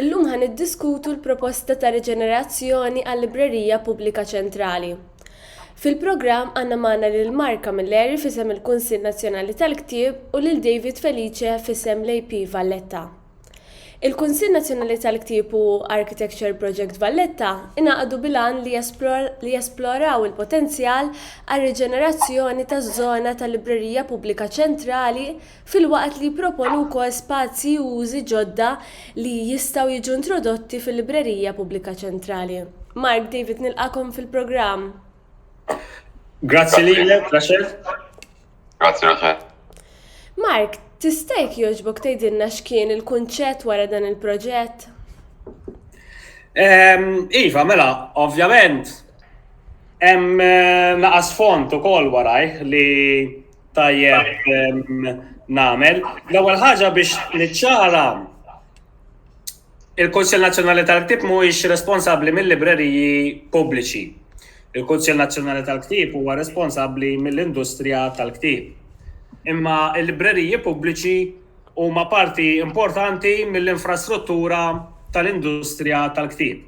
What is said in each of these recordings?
Illum ħa niddiskutu l-proposta ta' riġenerazzjoni għal-Librerija Pubblika Ċentrali. Fil-programm għandna magħna lil Mark Camilleri f'isem il-Kunsill Nazzjonali tal-Ktieb u lil David Felice f'isem l-AP Valletta. Il-Kunsill Nazzjonali tal-Ktieb u Architecture Project Valletta ingħaqdu bil-għan li jesploraw il-potenzjal għar-riġenerazzjoni taż-żona tal-Librerija Pubblika Ċentrali filwaqt li jipproponu wkoll spazji u użi ġodda li jistgħu jiġu introdotti fil-Librerija Pubblika Ċentrali. Mark, David nilqagħkom fil-programm. Grazzi lilek, Rachel. Grazzi, Rachel. Mark, tista' jekk jogħġbok tgħidilna x'kien il-kunċett wara dan il-proġett? Ehm, iva, mela, ovvjament, hemm eh, naqas font ukoll waraj li tajjeb namel. L-ewwel ħaġa biex niċċara il-Kunsill Nazzjonali tal-Ktib mhuwiex responsabbli mill-libreriji pubbliċi. Il-Kunsill Nazzjonali tal-Ktib huwa responsabbli mill-industrija tal-ktib. Imma l-libreriji pubbliċi huma parti importanti mill-infrastruttura tal-industrija tal-ktib.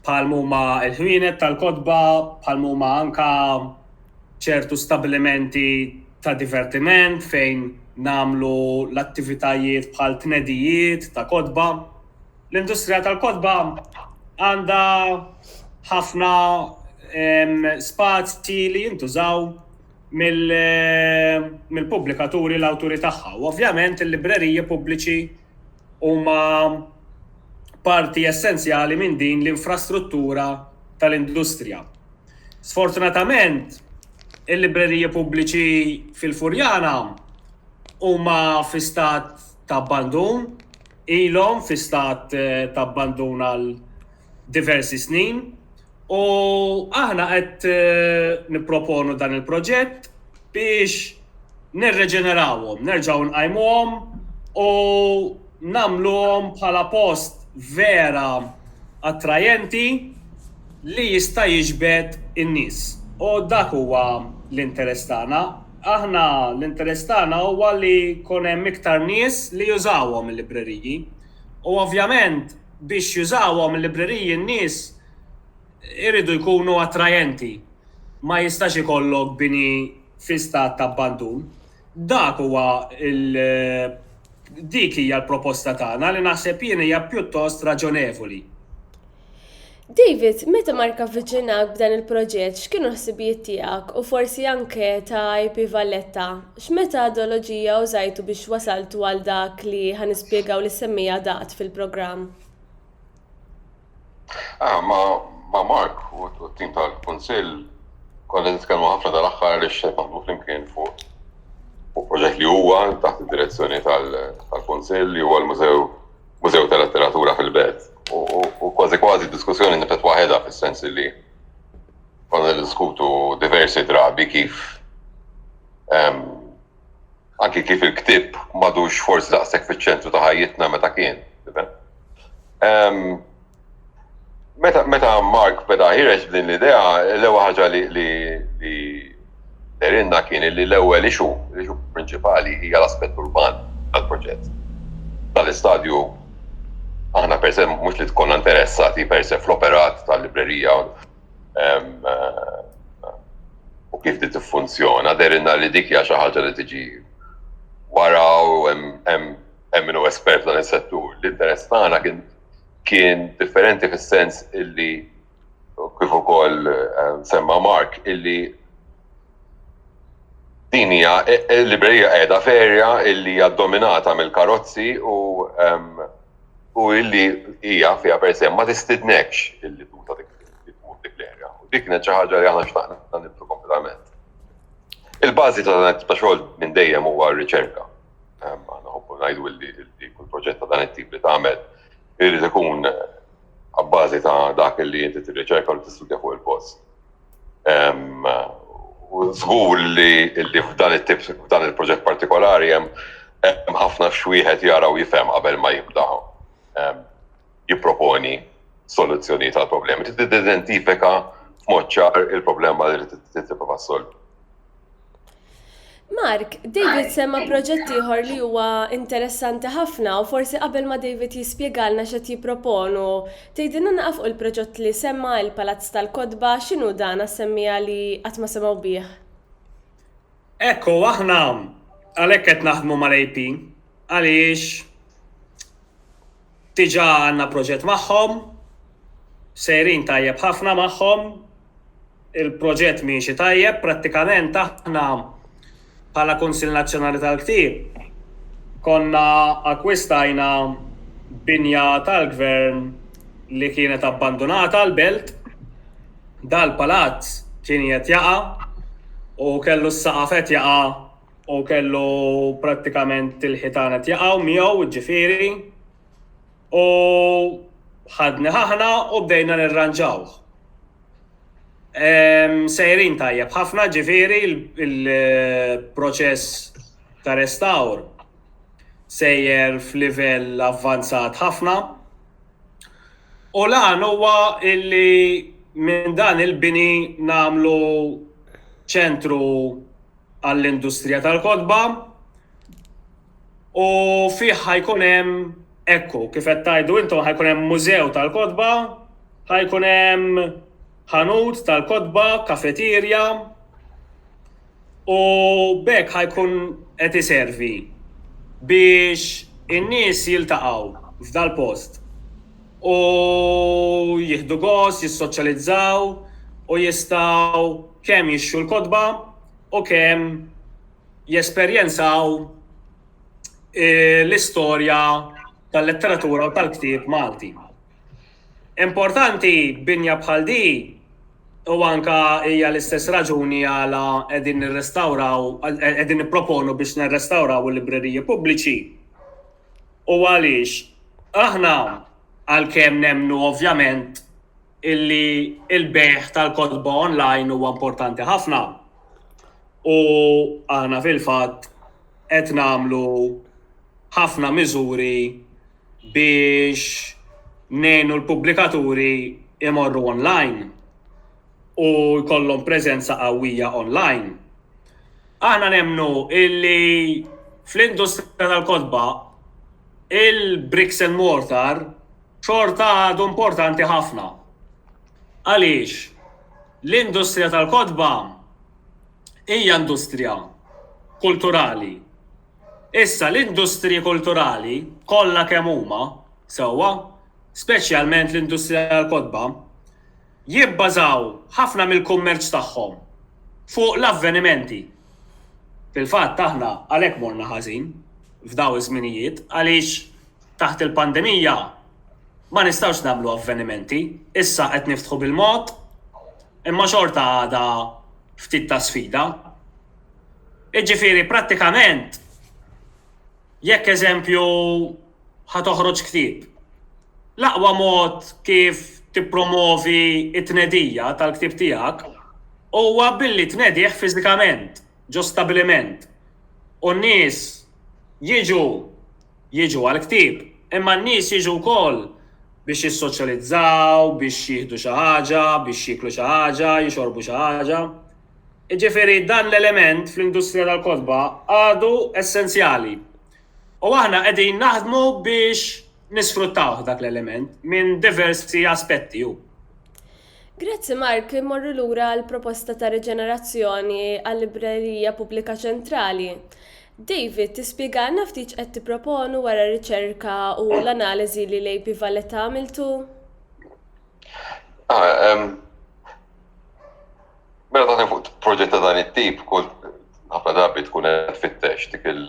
bħal m'huma l-ħwienet tal-kotba, bħal m'huma anka ċertu stabbilimenti ta' divertiment fejn nagħmlu l-attivitajiet bħal tnedijiet ta' kotba. L-industrija tal-kotba għandha ħafna spazji li jintużaw mill-pubblikaturi l-awturi tagħha u ovvjament il-libreriji pubbliċi huma parti essenzjali minn din l-infrastruttura tal-industrija. Sfortunatament, il-libreriji pubbliċi fil-Furjana huma fi stat ta' abbandun, ilhom fi stat eh, ta' abbandun għal diversi snin U aħna qed nipproponu dan il-proġett biex nirreġenerawhom, nerġgħu nqajmuhom u nagħmluhom bħala post vera attrajenti li jista' jiġbed in-nies. U dak huwa l-interess tagħna. Aħna l-interess tagħna huwa li jkun hemm iktar nies li jużawhom il-libreriji. u ovvjament biex jużawhom il-libreriji n-nies iridu jkunu attrajenti. Ma jistax ikollok bini fi stat ta' abbandun. Dak huwa l dik hija l-proposta tagħna li naħseb jien hija pjuttost raġonevoli. David, meta Mark avviċinak b'dan il-proġett, x'kienu l-ħsibijiet tiegħek u forsi anke ta' IP Valletta? X'metadoloġija użajtu biex wasaltu għal dak li ħa nispjegaw li ssemmi adad fil-programm? Ah, ma' Mark u t-tim tal-Kunsill konna nitkellmu ħafna dal-aħħar li xed naħdmu flimkien fuq fuq proġett li huwa taħt id-direzzjoni tal-Kunsill li huwa l-Mużew Mużew ta' Letteratura fil-Belt. U kważi kważi diskussjoni nifet waħedha fis-sens li konna diskutu diversi drabi kif anki kif il-ktib madux forsi daqshekk fiċ-ċentru ta' ħajjitna meta kien. Meta, meta Mark beda ħireġ din l-idea, l-ewwel ħaġa li li li derinna kien li l-ewwel ixu, l-ixu prinċipali hija l-aspett urban tal-proġett. Tal-istadju aħna per se mhux li tkun interessati per se fl-operat tal-librerija u kif di tiffunzjona, derinna li dik hija xi ħaġa li tiġi wara u hemm hemm hemm espert dan is-settur. L-interess tagħna kien kien differenti fis-sens illi kif ukoll eh, semma Mark illi din hija eh, eh, librerija qiegħda ferja illi hija dominata mill-karozzi u u illi hija fiha per se ma tistidnekx illi tuża dik dik l-erja. U dik kienet xi ħaġa li aħna xtaqna nibdu kompletament. Il-bażi ta' xogħol minn dejjem huwa r-riċerka. Aħna nħobbu ngħidu li kull proġett ta' dan it-tip li tagħmel irid ikun abbażi ta' dak li inti tirriċerka u tistudja fuq il-post. U żgur li f'dan it-tip f'dan il-proġett partikolari hemm ħafna x'wieħed jara u jifhem qabel ma jibda. jipproponi soluzzjonijiet għal problemi, trid tidentifika f'mod ċar il-problema li trid tipprova solvi. Mark, David semma proġett ieħor li huwa interessanti ħafna u forsi qabel ma David jispjegalna x'e jipproponu. Tgħidilna naqaf il-proġett li semma il-Palazz tal-Kotba x'inhu dan għas-semmija li qatt ma semgħu bih. Ekku, aħna għalhekk qed naħdmu mal-AP għaliex Diġà għandna proġett magħhom, sejrin tajjeb ħafna magħhom, il-proġett miexi tajjeb, prattikament aħna bħala Kunsill Nazzjonali tal-Ktieb konna akkwistajna binja tal-Gvern li kienet abbandunata l-Belt, dal-palazz kien qiegħed jaqa' u kellu s-saqaf qed jaqa' u kellu prattikament il-ħitana tjaqaw miegħu ġifieri u ħadni ħahna u bdejna nirranġawh. Sejrin tajjeb ħafna ġifieri il-proċess ta' restawr sejjer f'livell avvanzat ħafna u l-għan huwa illi minn dan il-bini nagħmlu ċentru għall-industrija tal-kotba u fih ħajkun hemm ekku kif qed tgħidu intom ħajkun hemm mużew tal-kotba, ħajkun hemm ħanut tal-kotba, kafeterja u b'hekk ħajkun qed iservi biex in-nies jiltaqgħu f'dal-post. u jieħdu gost jissoċjalizzaw u jistgħu kemm jixtru l-kotba u kemm jesperjenzaw l-istorja tal-letteratura u tal-ktieb Malti. Importanti binja bħal di u anka hija l-istess raġuni għala qegħdin nirrestawraw qegħdin nipproponu biex nirrestawraw il-libreriji pubbliċi. u għaliex aħna għalkemm nemmnu ovvjament illi il-bejħ tal-kotba online huwa importanti ħafna u aħna fil-fatt qed nagħmlu ħafna miżuri biex ngħinu l-pubblikaturi imorru online u jkollhom preżenza qawwija online. Aħna nemnu illi fl-industrija tal-kodba il-bricks and mortar xorta għadu importanti ħafna. Għaliex l-industrija tal-kodba hija industrija kulturali. Issa l-industriji kulturali kollha kemm huma sewwa, speċjalment l-industrija tal-kodba, Jibbażaw ħafna mill-kummerċ tagħhom fuq l-avvenimenti. Fil-fatt aħna għalhekk morna ħażin f'dawn iż-żminijiet għaliex taħt il-pandemija ma nistgħux nagħmlu avvenimenti. Issa qed niftħu bil-mod imma xorta għadha ftit ta' sfida. Jiġifieri prattikament. Jekk eżempju ħa toħroġ ktieb, l-aqwa mod kif tippromovi t-tnedija tal-ktieb tiegħek huwa billi tnedih fiżikament ġo stabbiliment u n-nies jiġu jiġu għall-ktieb imma n-nies jiġu wkoll biex jissoċjalizzaw, biex jieħdu xi ħaġa, biex jieklu xi ħaġa, jixorbu xi ħaġa. Jiġifieri dan l-element fl-industrija tal-kotba għadu essenzjali u aħna qegħdin naħdmu biex nisfruttawh dak l-element minn diversi aspetti u. Grazzi Mark, immorru lura għall-proposta ta' riġenerazzjoni għal-Librerija Pubblika Ċentrali. David, tispjegalna ftit x'qed tipproponu wara r-riċerka u l-analiżi li l-AP Valletta għamiltu? Ah, Mela taħdem fuq proġett ta' dan it-tip, kull ħafna drabi tkun qed fittex dik il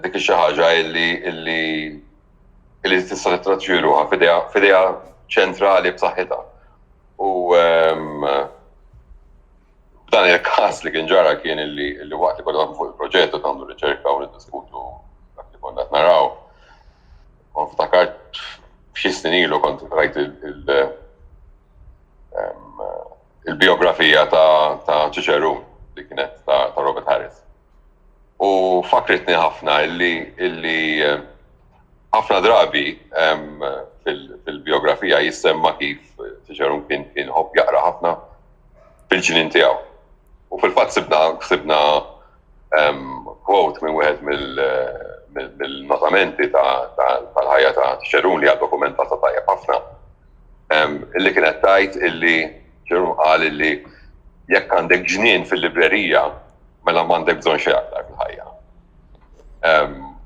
dik xi ħaġa illi illi illi tista' tittraġġi ruha f'idea ċentrali b'saħħitha. U ehm, dan il-każ li kien ġara kien illi illi waqt li konna fuq il-proġett u tagħmlu riċerka u niddiskutu dak li konna naraw. U ftakart xi snin ilu kont rajt il- il-biografija ta' Ċiċeru li kienet ta' Robert Harris. U fakritni ħafna illi illi eh, ħafna drabi fil-biografija jissemma kif Cicerun kien kien ħobb jaqra ħafna fil-ġinin tiegħu. U fil-fatt sibna sibna quote minn wieħed mill-notamenti tal-ħajja ta' Cicerun li għad dokumentata tajjeb ħafna illi kienet tajt illi ġerun qal illi jekk għandek ġnien fil-librerija mela m'għandek bżonn xejn aktar fil-ħajja.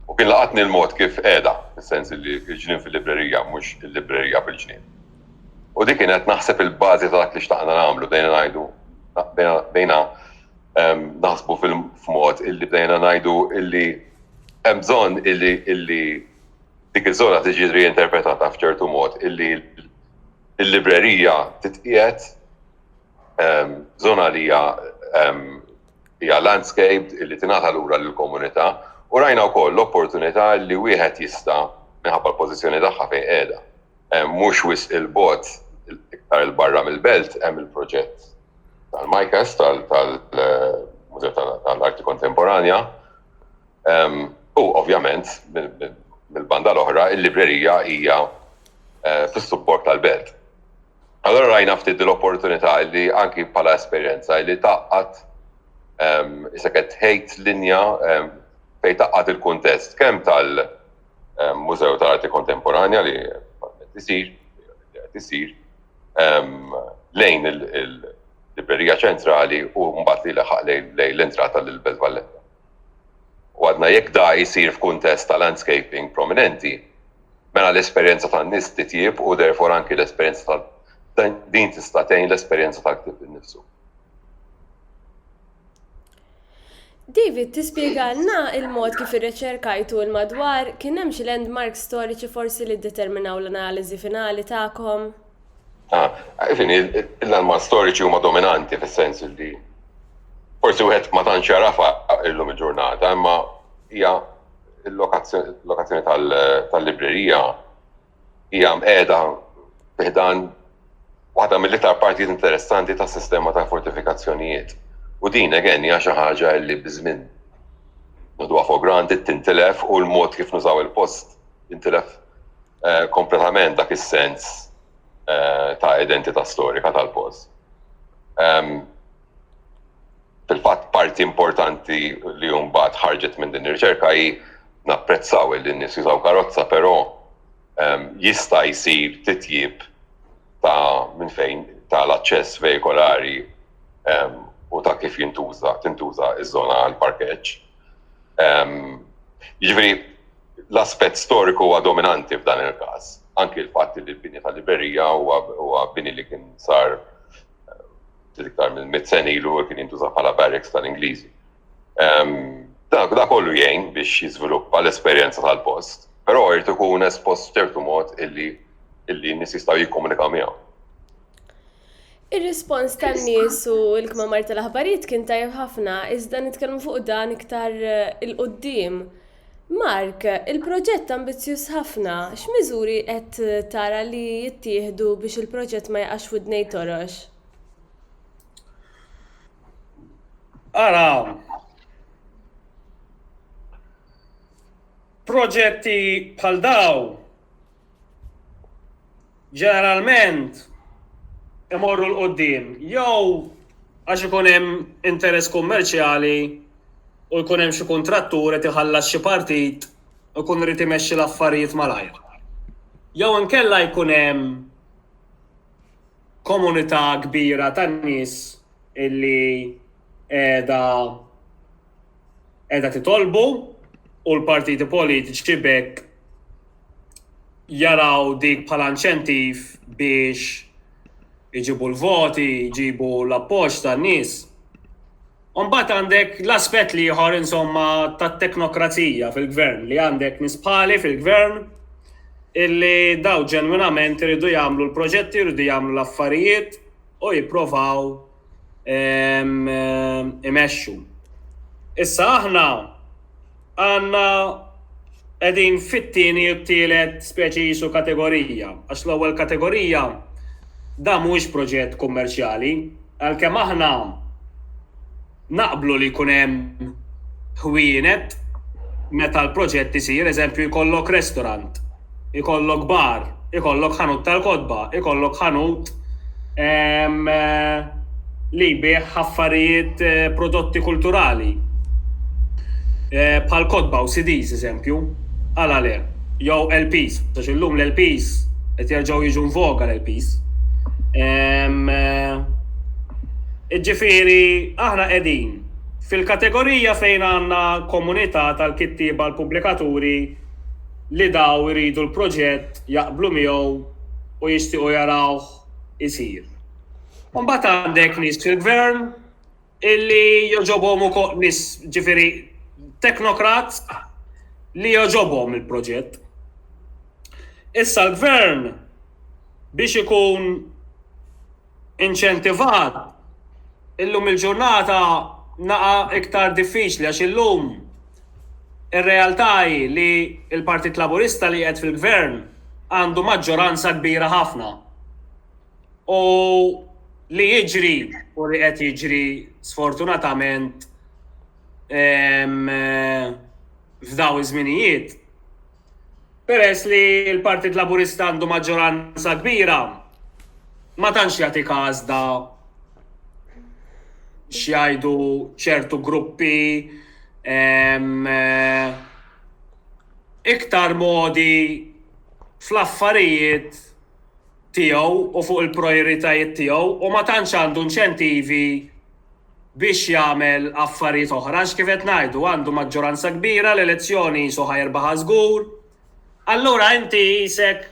U kien laqatni l-mod kif qiegħda, fis-sens illi ġnien fil-librerija mhux il-librerija bil-ġnien. U dik kienet naħseb il-bażi ta' dak li xtaqna nagħmlu bdejna ngħidu bdejna naħsbu fil-mod illi bdejna ngħidu illi hemm bżonn illi illi dik iż-żona tiġi riinterpretata f'ċertu mod illi l-librerija titqiegħed żona li hija hija landscaped illi tingħata lura lill-komunità u rajna wkoll l-opportunità li wieħed jista' minħabba l-pożizzjoni tagħha fejn qiegħda. Mhux wisq il-bot iktar il-barra mill-belt hemm il-proġett tal-Majkas tal-Mużew tal-Arti Kontemporanja U ovvjament, mill-banda l-oħra, il-librerija hija eh, fis-support tal-belt. Allora rajna ftit l-opportunità li anki bħala esperjenza li taqqat iseket ħejt linja fej taqqat il-kuntest kemm tal-Mużew tal-Arti Kontemporanja li tisir, tisir lejn il- librerija ċentrali u mbagħad li laħaq lejn l-entrata l Belt Valletta. u għadna jekk da jsir f'kuntest ta' landscaping prominenti, mela l-esperjenza tan-nies titjieb u therefore anki l-esperjenza tal din tista' tgħin l-esperjenza tal-ktieb innifsu. David, tispjegalna il-mod kif irreċerkajtu il-madwar, kien hemm xi landmarks storiċi forsi li ddeterminaw l-analiżi finali tagħkom? Fini, l-anma storiċi huma dominanti fis-sens li forsi wieħed ma tantx jarafa illum il-ġurnata, imma hija l-lokazzjoni tal-librerija hija mqeda fiħdan waħda mill-iktar partijiet interessanti tas-sistema ta' fortifikazzjonijiet. U din again hija xi ħaġa li biżmin nħduha for granted tintilef u l-mod kif nużaw il-post jintilef kompletament dak is-sens ta' identità storika tal-post. Fil-fatt parti importanti li mbagħad ħarġet minn din ir-riċerka hi napprezzaw li n-nies jużaw karozza, però jista' jsir titjib ta' minn fejn ta' l-aċċess vejkolari u ta' kif jintuża tintuża ż-żona għall-parkeġġ. Jiġifieri l-aspett storiku huwa dominanti f'dan il-każ, anki l-fatt li l-bini tal-librerija huwa bini li kien sar iktar minn mit sen ilu kien jintuża bħala barracks tal-Ingliżi. Da kollu jgħin biex jiżviluppa l-esperjenza tal-post, però jrid ikun espost f'ċertu mod illi n-nies jistgħu jikkomunikaw miegħu. Ir-rispons tan-nies u l-kmamar tal-aħbarijiet kien tajjeb ħafna, iżda nitkellmu fuq dan iktar eh, il-qudiem. Mark, il-proġett ambizzjuż ħafna, x'miżuri qed tara li jittieħdu biex il-proġett ma jaqax widnej torox? Ara, proġetti bħal daw ġeneralment imorru l-qoddim jew għax ikun hemm interess kummerċjali u jkun hemm xi kuntrattur qed iħallas xi partit u jkun irid imexxi l-affarijiet malajr. Jew inkella jkun hemm komunità kbira ta' nies illi qiegħda qiegħda titolbu u l-partiti politiċi bekk jaraw dik bħala inċentiv biex iġibu l-voti, iġibu l-appoġġ tan-nies. Mbagħad għandek l-aspett li ieħor insomma tat-teknokrazija fil-gvern li għandek nispali fil-gvern illi daw ġenwinament iridu jagħmlu l-proġetti, iridu jagħmlu l-affarijiet u jipprovaw imexxu. Issa aħna għanna edin fit-tieni u t-tielet speċi jisu kategorija, għax l-ewwel kategorija da mhuwiex proġett kummerċjali, għalkemm aħna naqblu li jkun hemm ħwienet meta l-proġett isir, eżempju jkollok restaurant Ikollok bar, ikollok ħanut tal-kotba, ikollok ħanut ehm, eh, li jbieħ ħaffarijiet eh, prodotti kulturali. Eh, bħal kotba u CDs, eżempju, għala le, jew LPs, għax illum l-LPs qed jerġgħu jiġu nvoga l-LPs. Ehm, Ġifieri aħna qegħdin fil-kategorija fejn għandna komunità tal-kittieba l-pubblikaturi li dawn iridu l-proġett, jaqblu miegħu u jixtiequ jarawh isir. U mbagħad għandek nies fil-gvern illi jogħġobhom ukoll nies ġifieri teknokrat li jogħġobhom il-proġett. Issa l-gvern biex ikun inċentivat, illum il-ġurnata naqa' iktar diffiċli għax illum ir-realtà hi li l-Partit Laburista li qiegħed fil-Gvern għandu maġġoranza kbira ħafna. U li jiġri u li qed jiġri sfortunatament f'dawn iż-żminijiet Peress li l-Partit Laburista għandu maġġoranza kbira, ma tantx jagħti każda x'jgħidu ċertu gruppi ehm, eh, iktar modi fl-affarijiet tiegħu u fuq il-prioritajiet tiegħu u ma tantx għandu inċentivi biex jagħmel affarijiet oħra għax kif qed ngħidu għandu maġġoranza kbira l-elezzjoni qisu ħa jirbaħha żgur. Allura inti qisek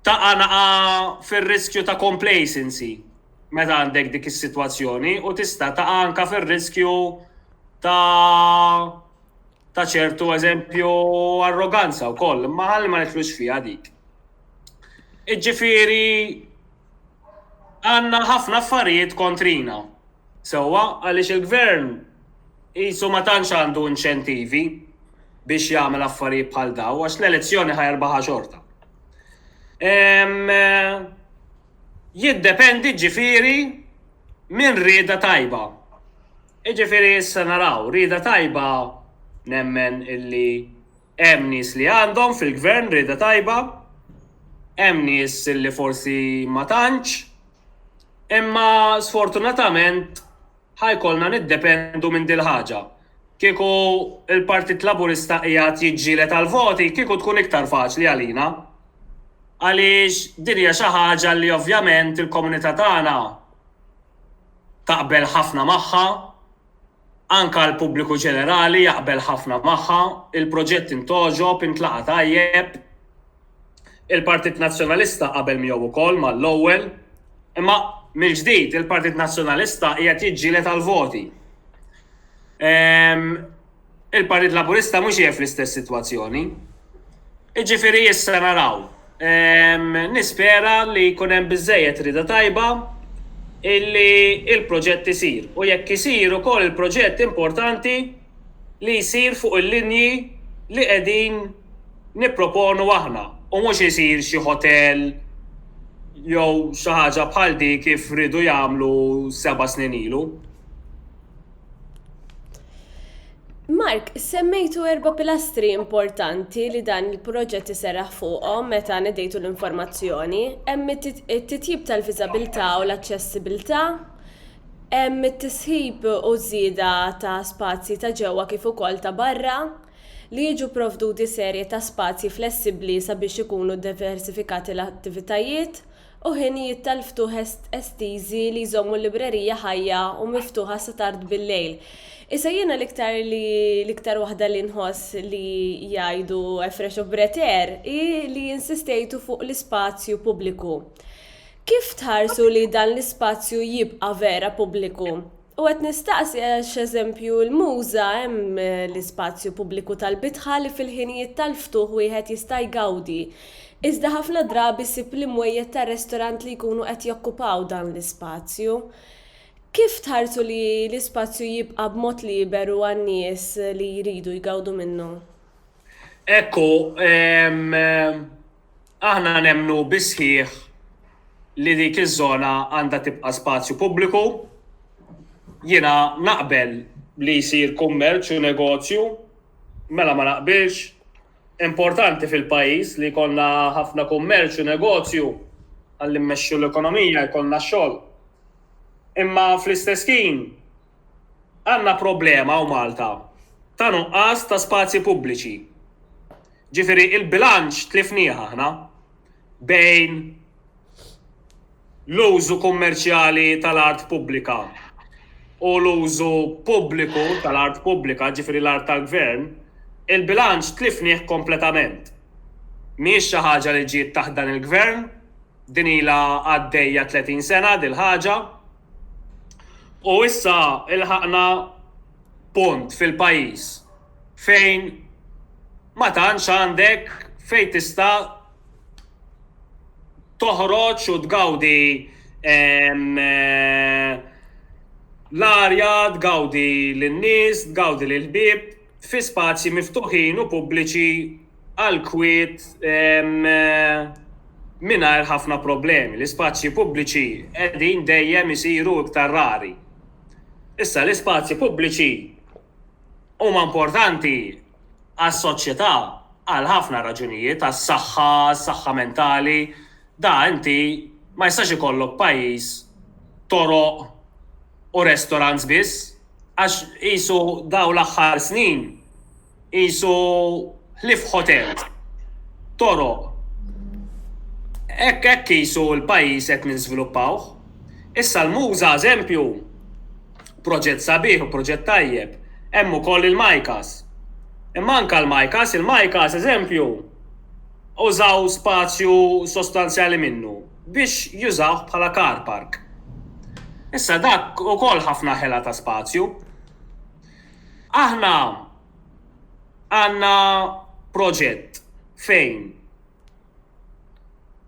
taqa' naqa' fir-riskju ta' complacency meta għandek dik is-sitwazzjoni u tista' taqa' anke fir-riskju ta' ta' ċertu eżempju arroganza wkoll, imma ħalli ma nidħlux fiha dik. Iġġifieri għandna ħafna affarijiet kontrina. Sewwa, għaliex il-Gvern qisu ma tantx għandu inċentivi biex jagħmel affarijiet bħal daw, għax l-elezzjoni ħajrbaħa xorta. Jiddependi ġifiri minn rieda tajba. Ġifiri issa naraw, rieda tajba nemmen illi Hemm nies li għandhom fil-Gvern rieda tajba, hemm nies li forsi ma tantx, imma sfortunatament ħa jkollna niddependu minn dil-ħaġa. Kieku l-Partit Laburista qiegħed jiġġieled għall-voti kieku tkun iktar faċli għalina. Għaliex din hija xi ħaġa li ovvjament il-komunità tagħna taqbel ħafna magħha. Anke għall-pubbliku ġenerali jaqbel ħafna magħha, il-proġett int għoġob, intlaqa' tajjeb. Il-Partit Nazzjonalista qabel miegħu wkoll mal-ewwel. Imma mill-ġdid il-Partit Nazzjonalista qiegħed jiġġieled għall-voti. Il-Partit Laburista mhux qiegħed fl-istess sitwazzjoni. Jiġifieri issa naraw. Nispera li jkun hemm biżżejjed rieda tajba illi l-proġett isir u jekk isir ukoll il-proġett importanti li jsir fuq il-linji li qegħdin nipproponu aħna u mhux isir xi ħotel jew xi ħaġa bħal dik kif riedu jagħmlu seba' snin ilu. Mark, semmejtu erba pilastri importanti li dan il-proġett iserraħ fuqhom meta nedejtu l-informazzjoni. Hemm it-titjib tal-viżabilità u l-aċċessibilità, hemm it-tisħib u żieda ta' spazji ta' ġewwa kif ukoll ta' barra, li jiġu provduti serje ta' spazji flessibbli sabiex ikunu diversifikati l-attivitajiet, u ħinijiet tal-ftuħ estiżi li jżommu l-librerija ħajja u miftuħa sa tard bil-lejl. Issa jiena l-iktar li l-iktar waħda li nħoss li jgħidu Efresh u Breteer hi li insistejtu fuq l-ispazju pubbliku. Kif tħarsu li dan l-ispazju jibqa' vera pubbliku? U qed nistaqsi għax eżempju l-Muża hemm l-ispazju pubbliku tal-bitħa li fil-ħinijiet tal-ftuħ wieħed jista' jgawdi. Iżda ħafna drabi ssib l-imwejjed tar-restorant li jkunu qed jokkupaw dan l-ispazju. Kif tħarsu li l-ispazju jibqa' b'mod liberu għan-nies li jridu jgawdu minnu? Ekku, ehm. Aħna nemmnu bis-sħiħ li dik iż-żona għandha tibqa' spazju pubbliku. Jiena naqbel li jsir kummerċ u negozju, mela ma naqbilx? Importanti fil-pajjiż li jkollna ħafna kummerċ u negozju ħalli mmexxu l-ekonomija, jkollna x-xogħol. Imma fl-istess ħin, Għandna problema hawn Malta ta' nuqqas ta' spazji pubbliċi. Ġifieri il-bilanċ tlifnieh aħna bejn l-użu kummerċjali tal-art pubblika u l-użu pubbliku tal-art pubblika, ġifieri l-art tal-Gvern, il-bilanċ tlifnieh kompletament. Mhijiex xi ħaġa li ġiet taħt dan il-Gvern, din ilha għaddejja 30 sena dil-ħaġa. U issa ilħaqna punt fil-pajjiż fejn ma tantx għandek fejn tista' toħroġ u tgawdi l-arja, tgawdi lin-nies, tgawdi lill-ħbieb fi spazji miftuħin u pubbliċi għall-kwiet mingħajr ħafna problemi. L-ispazji pubbliċi qegħdin dejjem isiru iktar rari. Issa l-ispazji pubbliċi huma importanti għas-soċjetà għal ħafna raġunijiet, għas-saħħa, għas-saħħa mentali, da inti ma jistax ikollok pajjiż toroq u restaurants biss għax qisu dawn l-aħħar snin Qisu ħlief ħotelt. Toroq. Hekk hekk qisu l-pajjiż qed ninżviluppawh. Issa l-Muża eżempju, proġett sabiħ u proġett tajjeb. Hemm ukoll il-MICAs. Imma anke l-MICAs, il-MICAs eżempju, użaw spazju sostanzjali minnu biex jużawh bħala car park. Issa dak ukoll ħafna ħela ta' spazju. Aħna għandna proġett fejn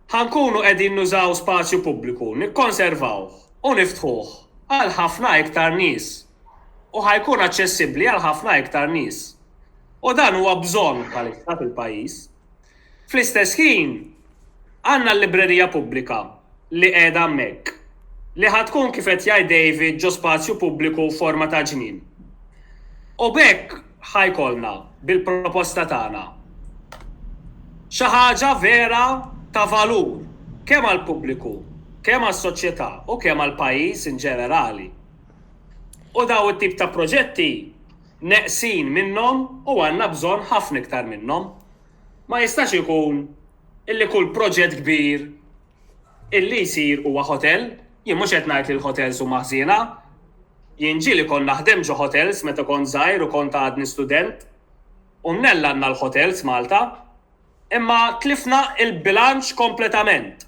ħa nkunu qegħdin nużaw spazju pubbliku, nikkonservawh u niftħuh għal ħafna iktar nies u ħa jkun aċċessibbli għal ħafna iktar nies. U dan huwa bżonn bħalissa fil-pajjiż. Fl-istess ħin, għandna l-librerija pubblika li qiegħda hemmhekk, li ħa tkun kif qed jgħid David ġo spazju pubbliku f'forma ta' ġnien. U b'hekk ħa jkollna, bil-proposta tagħna, xi ħaġa vera ta' valur kemm għall-pubbliku, kemm għas-soċjetà u kemm għall-pajjiż inġenerali. U dawn it-tip ta' proġetti, Neqsin minnhom u għandna bżonn ħafna iktar minnhom. Ma jistax ikun illi kull proġett kbir illi jsir huwa ħotel. Jien mhux qed ngħid li l-ħotels huma ħżiena. Jien ġieli kont naħdem ġo ħotels meta kont żgħir u kont għadni student. U mnell għandna l-ħotels Malta. Imma tlifna l-bilanċ kompletament.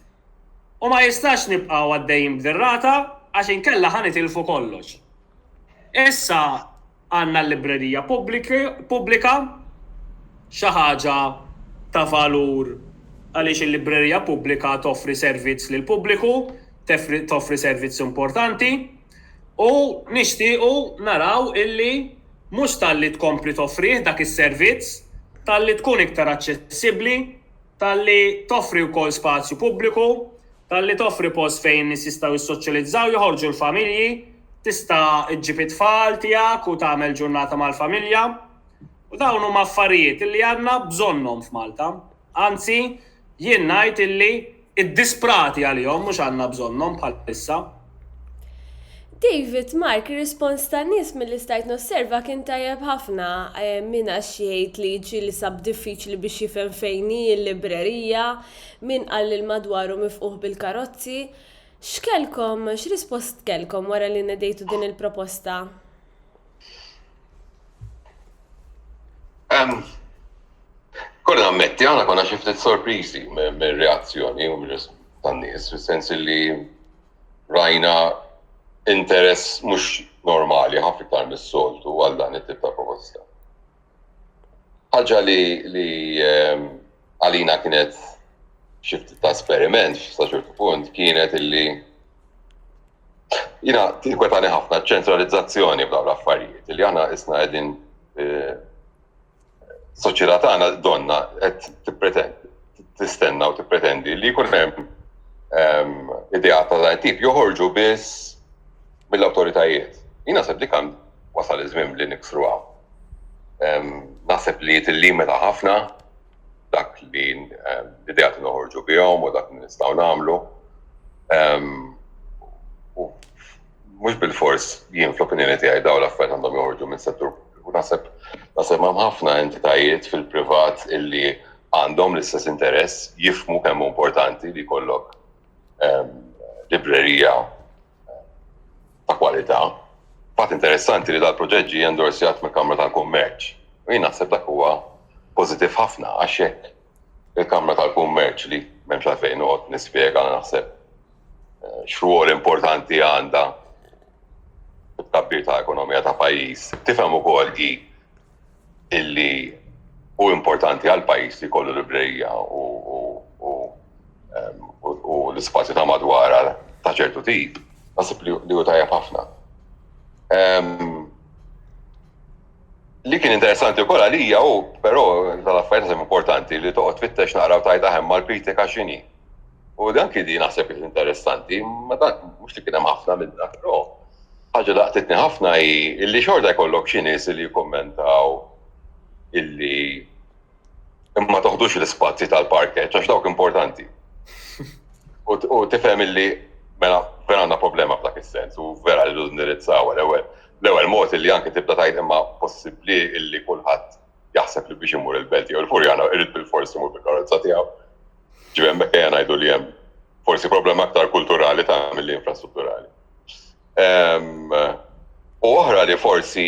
U ma jistax nibqgħu għaddejjin b'din rata għax inkella ħa nitilfu kollox. Issa għandna l-librerija pubblika, xi ħaġa ta' valur għaliex il-librerija pubblika toffri servizz lill-pubbliku, toffri servizz importanti u nixtiequ naraw illi mhux talli tkompli toffrih dak is-servizz, talli tkun iktar aċċessibbli, talli toffri wkoll spazju pubbliku. Talli toffri post fejn in-nies jistgħu jissoċjalizzaw, joħorġu l-familji, tista' ġġib it-tfal tiegħek u tagħmel ġurnata mal-familja. U dawn huma affarijiet illi għandna bżonnhom f'Malta. Anzi, jien ngħid illi iddisprati għalihom mhux għandna bżonnhom bħalissa. David, Mark, ir-rispons tan-nies milli stajt nosserva kien tajjeb ħafna. Eh, min għax jgħid li ġieli sab diffiċli biex jifhem fejn hi l-librerija, min qal li l-madwaru mifquħ bil-karozzi. X'kellkom, x'rispost kellkom wara li nedejtu din il-proposta? Kolli nammetti, aħna konna xi ftit sorpriżi mir-reazzjoni u mir-rispons tan-nies, fis-sens li rajna interess mhux normali ħafna iktar mis-soltu għal dan it-tip ta' proposta. Ħaġa li ehm, għalina kienet xi ftit ta' esperiment sa ċertu punt kienet illi Jina, tinkwetani ħafna ċentralizzazzjoni bla l-affarijiet, li aħna isna għedin eh, soċjetà tagħna donna qed tippretendi tistenna u tippretendi li jkun hemm ehm, idea ta' dan tip joħorġu biss mill-awtoritajiet. Jina seb li kan wasal iż-żmien li niksru hawn. Ehm, naħseb li tillimita ħafna dak li l-idea li noħorġu bihom u dak li nistgħu nagħmlu. Mhux bil-fors jien fl-opinjoni tiegħi dawn l-affarijiet għandhom joħorġu minn settur u naħseb naħseb hemm ħafna entitajiet fil-privat illi għandhom l-istess interess jifmu kemm importanti li jkollok librerija ta' kwalità. Fatt interessanti li dal-proġett ġie endorsjat mill-Kamra tal-Kummerċ. U jien naħseb dak huwa pożittiv ħafna għax jekk il-Kamra tal-Kummerċ li m'hemmx għalfejn noqgħod nispjega naħseb eh, x'rwol importanti għandha it-tabbir ta' ekonomija ta' pajjiż, tifhem ukoll hi illi u importanti għal pajjiż li kollu librerija u u l-ispazju ta' madwara ta' ċertu tip, nasib li u tajab ħafna. Li kien interessanti wkoll għalija u però tal-affarijiet importanti li toqgħod fittex naqra u tajt aħem mal-kritika x'inhi. U dan kien naħseb kien interessanti, ma dan mhux li kien hemm ħafna minn dak, però ħaġa laqtitni ħafna hi illi xorta jkollok xi nies li jikkummentaw illi imma toħdux l-ispazji tal-parkeġġ għax dawk importanti. U tifhem illi mela vera għandna problema f'dak is-sens u vera li l-indirizzaw l-ewwel. L-ewwel mod illi anke tibda tgħid imma possibbli illi kulħadd jaħseb li biex imur il-belt jew il-furjana irid bil-forsi imur bil-karozza tiegħu. Ġifieri hemmhekk ejja ngħidu li hemm forsi problema aktar kulturali ta' mill infrastrutturali. Ehm, u oħra li forsi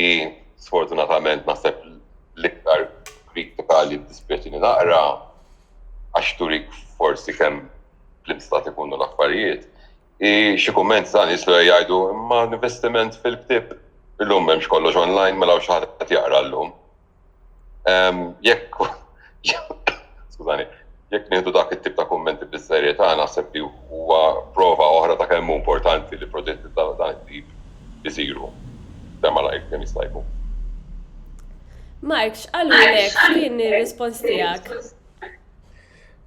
sfortunatament naħseb l-iktar kritika li dispieċi li naqra għax turik forsi kemm fl-instat ikunu l-affarijiet, Xi kumment ta' nies li jgħidu imma l-investiment fil-ktieb illum m'hemmx kollox online mela xi ħadd qed jaqra llum. Jekk skużani, jekk nieħdu dak it-tip ta' kummenti bis-serjetà naħseb li huwa prova oħra ta' kemm importanti li proġetti ta' dan it-tip isiru kemm malajr kemm jista' jkun. Mark, x'qalulek? X'kien ir-rispons tiegħek?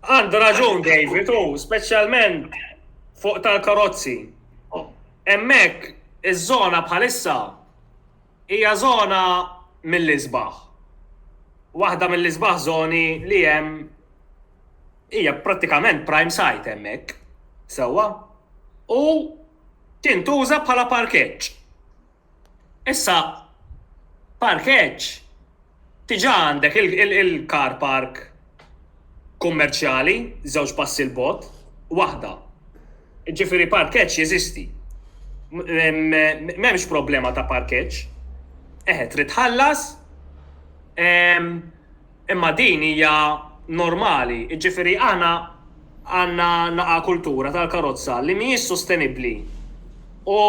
Għandu raġun David u speċjalment fuq tal-karozzi. Hemmhekk iż-żona bħalissa hija żona mill-isbaħ. Waħda mill-isbaħ żoni li hemm hija prattikament prime site hemmhekk, sewwa? U tintuża bħala parkeġġ. Issa, parkeġġ, diġà għandek il-car park kummerċjali żewġ passi 'l bogħod, waħda. Jiġifieri parkeġġ jeżisti. M'hemmx problema ta' parkeġġ. Eħe, trid tħallas. Imma din hija normali. Jiġifieri aħna għandna naqa' kultura tal-karozza li mhijiex sostenibbli u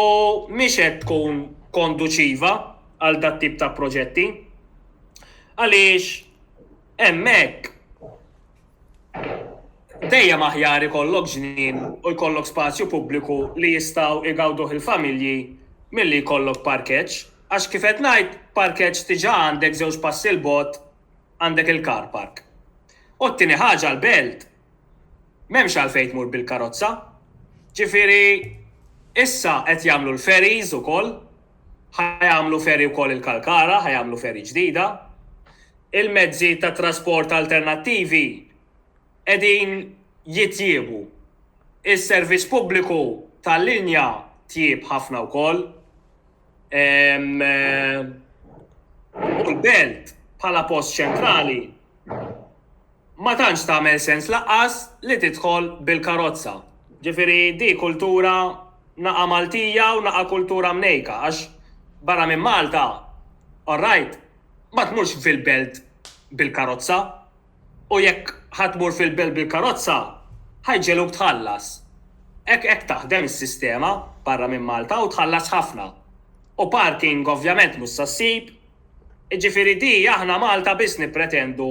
mhix qed tkun konduċiva għal dat-tip ta' proġetti għaliex hemmhekk dejjem aħjar ikollok ġnien u jkollok spazju pubbliku li jistgħu jgawduh il-familji milli jkollok parkeġġ. Għax kif qed ngħid, parkeġġ diġà għandek żewġ passi 'l bogħod għandek il-car park. U t-tieni ħaġa l-belt m'hemmx għalfejn tmur bil-karozza. Ġifieri issa qed jagħmlu l-ferries ukoll, ħa jagħmlu ferry wkoll il-Kalkara, ħa jagħmlu ferry ġdida. Il-mezzi ta' trasport alternattivi qegħdin jitjiebu. Is-servizz pubbliku tal-linja tjieb ħafna wkoll. u l-belt bħala post ċentrali ma tantx tagħmel sens laqqas li tidħol bil-karozza. Ġifieri di kultura naqa' Maltija u naqa' kultura mnejka għax barra minn Malta, all right, ma tmurx fil-belt bil-karozza. U jekk ħa tmur fil-belt bil-karozza, ħa jġegħluk tħallas. Hekk hekk taħdem is-sistema barra minn Malta u tħallas ħafna. U parking ovvjament mhux sa ssib. Jiġifieri di aħna Malta biss nippretendu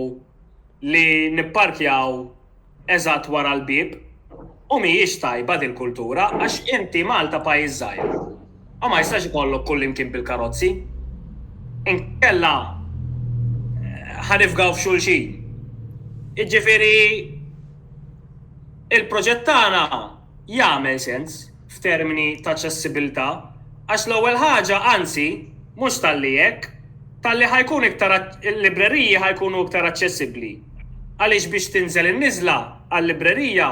li nipparkjaw eżatt wara l-bieb. u mhijiex tajba din kultura għax inti Malta pajjiż żgħir u ma jistax ikollok kullimkien bil-karozzi inkella ħa nifgaw f'xulxin. Jiġifieri il-proġett tagħna jagħmel sens f'termini ta' aċċessibilità għax l-ewwel ħaġa anzi mhux talli hekk talli ħa jkun iktar il-libreriji ħa jkunu iktar aċċessibbli. Għaliex biex tinżel in-niżla għal-librerija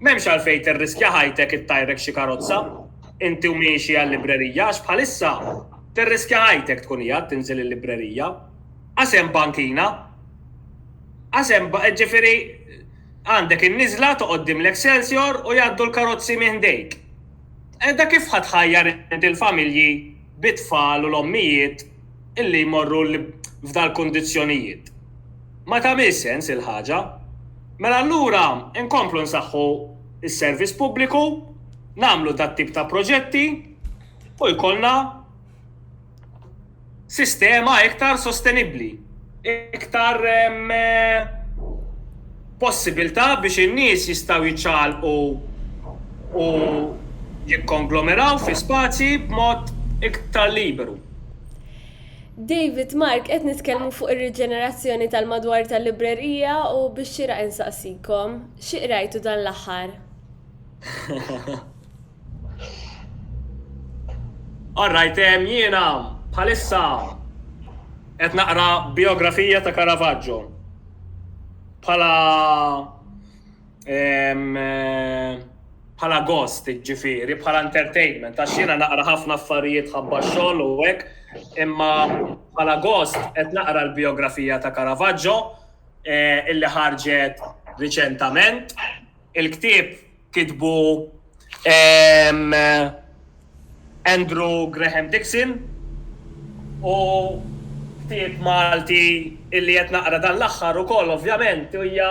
m'hemmx għalfejn tirriskja ħajtek ittajrek xi karozza inti u miexi għal-librerija għax bħalissa tirriskja ħajtek tkun qiegħed tinżel il-librerija għax hemm bankina għax hemm ġifieri għandek in-niżla toqgħod qudiem l-Excelsior u jgħaddu l-karozzi minn ħdejk. Qiegħda kif ħa tħajjar inti l-familji bit-tfal u l-ommijiet illi jmorru f'dal-kundizzjonijiet. Ma tagħmilx sens il-ħaġa. Mela allura nkomplu nsaħħu s-servizz pubbliku, nagħmlu dat-tip ta' proġetti u jkollna sistema iktar sostenibbli. iktar possibilità biex in-nies jistgħu jiċċaqalqu u jikkonglomeraw fi spazji b'mod iktar liberu. David, Mark, qed nitkellmu fuq ir-riġenerazzjoni tal-madwar tal-librerija u biex xieraq insaqsikom, xi qrajtu dan l-aħħar? All right, ehm, jiena bħalissa qed naqra biografija ta' Caravaggio bħala ehm, bħala ghost, ġifiri, bħala entertainment, għax jiena naqra ħafna affarijiet ħabba xogħol u hekk, imma bħala ghost qed naqra l-biografija ta' Caravaggio eh, illi ħarġet riċentament. Il-ktieb kitbu Andrew Graham Dixon u ktieb Malti illi qed naqra dan l-aħħar ukoll ovvjament hija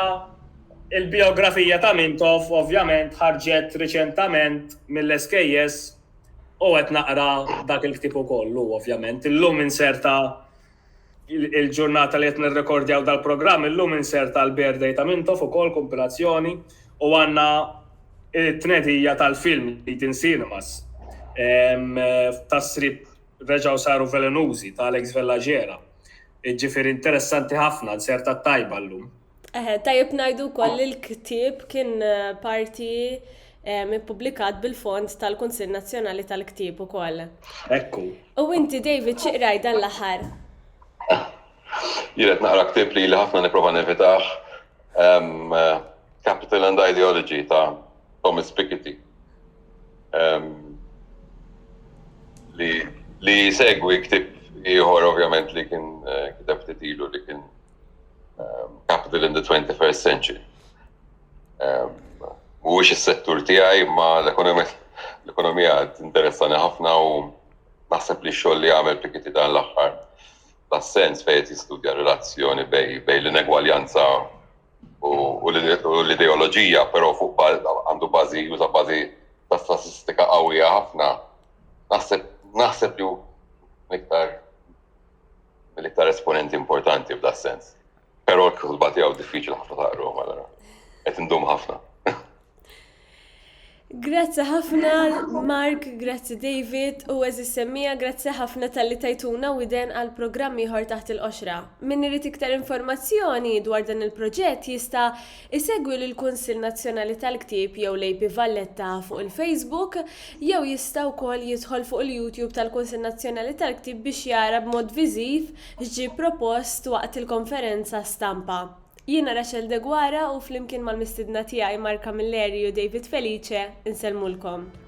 l-bijografija ta' Mintoff ovvjament ħarġet riċentament mill-SKS u qed naqra dak il-ktieb ukoll hu ovvjament. Illum inserta Il-ġurnata li qed nirrekordjaw dal-programm illum inserta l-Bear Day ta' Mintoff ukoll kumpilazzjoni u għandna t-tnedija tal-film li tin cinemas tas-srib reġgħu saru velenużi ta' Alex Vellagera. Ġifieri interessanti ħafna, inserta t-tajba llum. Eħe, tajjeb ngħidu wkoll li l-ktieb kien parti ippubblikat bil-fond tal-Kunsill Nazzjonali tal-Ktieb ukoll. Ekku. U inti David xi qraj dan l-aħħar? Jiret naqra ktieb li li ħafna nipprova nevitaħ Capital and Ideology ta' Thomas Piketty. Li segwi ktib ieħor ovvjament li kien eh, kiteb ftit ilu li kien um, capital in the 21st century. Um, Mhuwiex is-settur tiegħi ma l-ekonomija interessani ħafna u naħseb li xogħol li għamel Pikiti dan l-aħħar tas-sens fejn jistudja relazzjoni bej bej l-inegwaljanza u l-ideoloġija, però fuq għandu bażi juża bażi ta' statistika qawwija ħafna. Naħseb naħseb li iktar l-iktar esponenti importanti f'da sens. Però l-kutba tiegħu diffiċli ħafna taqru, allora. Qed indum ħafna. Grazzi ħafna Mark, grazzi David u eżis semmija, grazzi ħafna tal-li tajtuna u iden għal programm ieħor taħt il-qoxra. Min irid iktar informazzjoni dwar dan il-proġett jista' Isegwi lill-Kunsill Nazzjonali tal-Ktieb jew l-AP Valletta fuq il-Facebook, jew jista' wkoll jidħol fuq il-YouTube tal-Kunsill Nazzjonali tal-Ktieb biex jara b'mod viżiv x'ġie propost waqt il-konferenza stampa. Jiena Rachel Deguara u flimkien mal-mistiedna tiegħi Mark Camilleri u David Felice, insellmulkom.